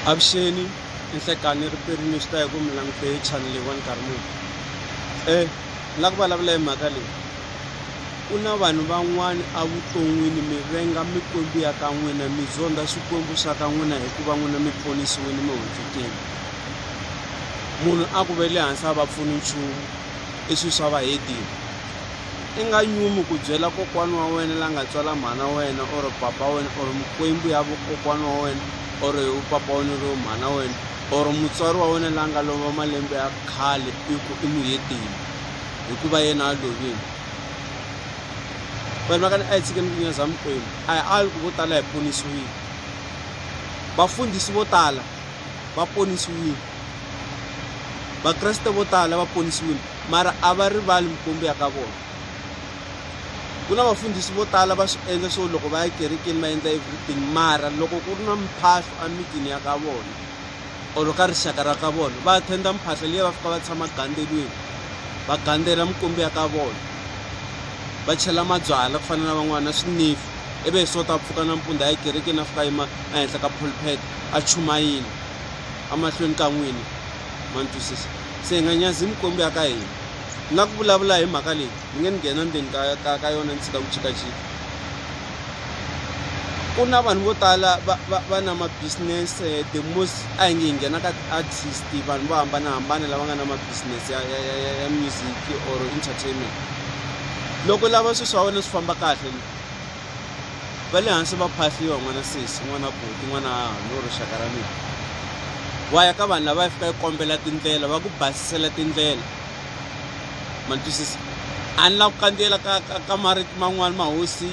Avuxeni ni nhlekani ri peri ni swi hi ku mi langute channel leyiwani nkarhi muni um ni lava ku vulavula hi mhaka leyi ku na vanhu van'wani evuton'wini mi venga mikwembu ya ka n'wina mi zonda swikwembu swa ka n'wina hikuva n'wina mi ponisiwini mi hundzukile munhu a ku ve le hansi a va pfuni nchumu i swilo swa vahedeni I nga nyumi ku byela kokwana wa wena la nga tswala mhana wa wena or papa wa wena or mikwembu ya vukokwana wa wena or papa wa wena lowo mhana wa wena or mutswari wa wena la nga lova malembe ya khale i ku i muheteni hikuva yena a lovile vanhu va ka ni a yi tshike mikinya za mikwembu a hi ali ku vo tala hi ponisiwile vafundhisi vo tala va ponisiwile vakreste vo tala va ponisiwile Mara a va rivali mikwembu ya ka vona. Ku na vafundhisi vo tala va swi endla swo loko va ya kerekeni va endla everything mara loko ku ri na mphahlo emitini ya ka vona or ka rixaka ra ka vona va attenda mphahlo liya va fika va tshama gandzelweni va gandzela mikwembu ya ka vona va chela mabyala ku fana na van'wana na swinifu ivi hi sota a pfuka nampundzu a ya kerekeni a fika yima ehenhla ka pulpet a chumayini emahlweni ka n'wina ma ni twisisa se hi nga nyazi mikwembu ya ka hina ni nga ku vulavula hi mhaka leyi ni nge ni nghena ndzeni ka, ka, ka yona ni tshika ku chikachika ku na vanhu vo tala va, va, va na mabusiness eh, the most a hi nge hi nghena ka ti-artist vanhu vo hambanahambana lava nga na mabusiness ya, ya, ya, ya, ya music or entertainment loko lava swilo swa wena swi famba kahle va le hansi va phahliwa n'wana sesi n'wana buti n'wana hahani or rixaka ra mina wa ya ka vanhu lava ya fika yi kombela tindlela va ku basisela tindlela ma ni twisisa a ni lava ku kandziyela ka ka ka marito man'wani mahosi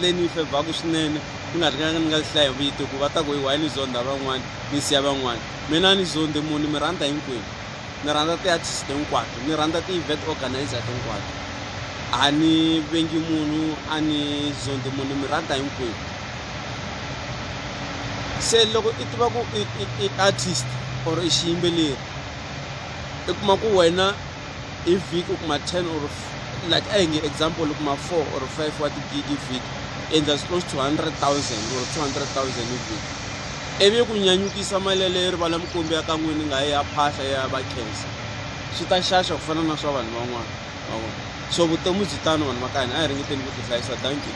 leyi ni yi fevhaku swinene ku nga ri ka ni nga hlaya vito ku va ta ku hi why ni zonda van'wani ni siya van'wani mina a ni zondhi munhu ni mi rhandza hinkwenu ni rhandza ti-artist hinkwato ni rhandza ti-event organizer hinkwato a ni vengi munhu a ni zondi munhu mi rhandza hinkwenu se loko i tiva ku i artist or i xiyimbeleri i kuma ku wena hi vhiki u kuma ten or like a hi nge example u kuma four or five wa tigigi vhiki endla close to hundred thousand or two hundred thousand hi vhiki ivi ku nyanyukisa mali yaleyo rivala mikwembu ya ka n'wini nga ya phahla ya va khensa swi ta xaxa ku fana na swa vanhu van'wana va vona so vutomi byi tano vanhu va ka hina a hi ringeteni ku tihlayisa thank you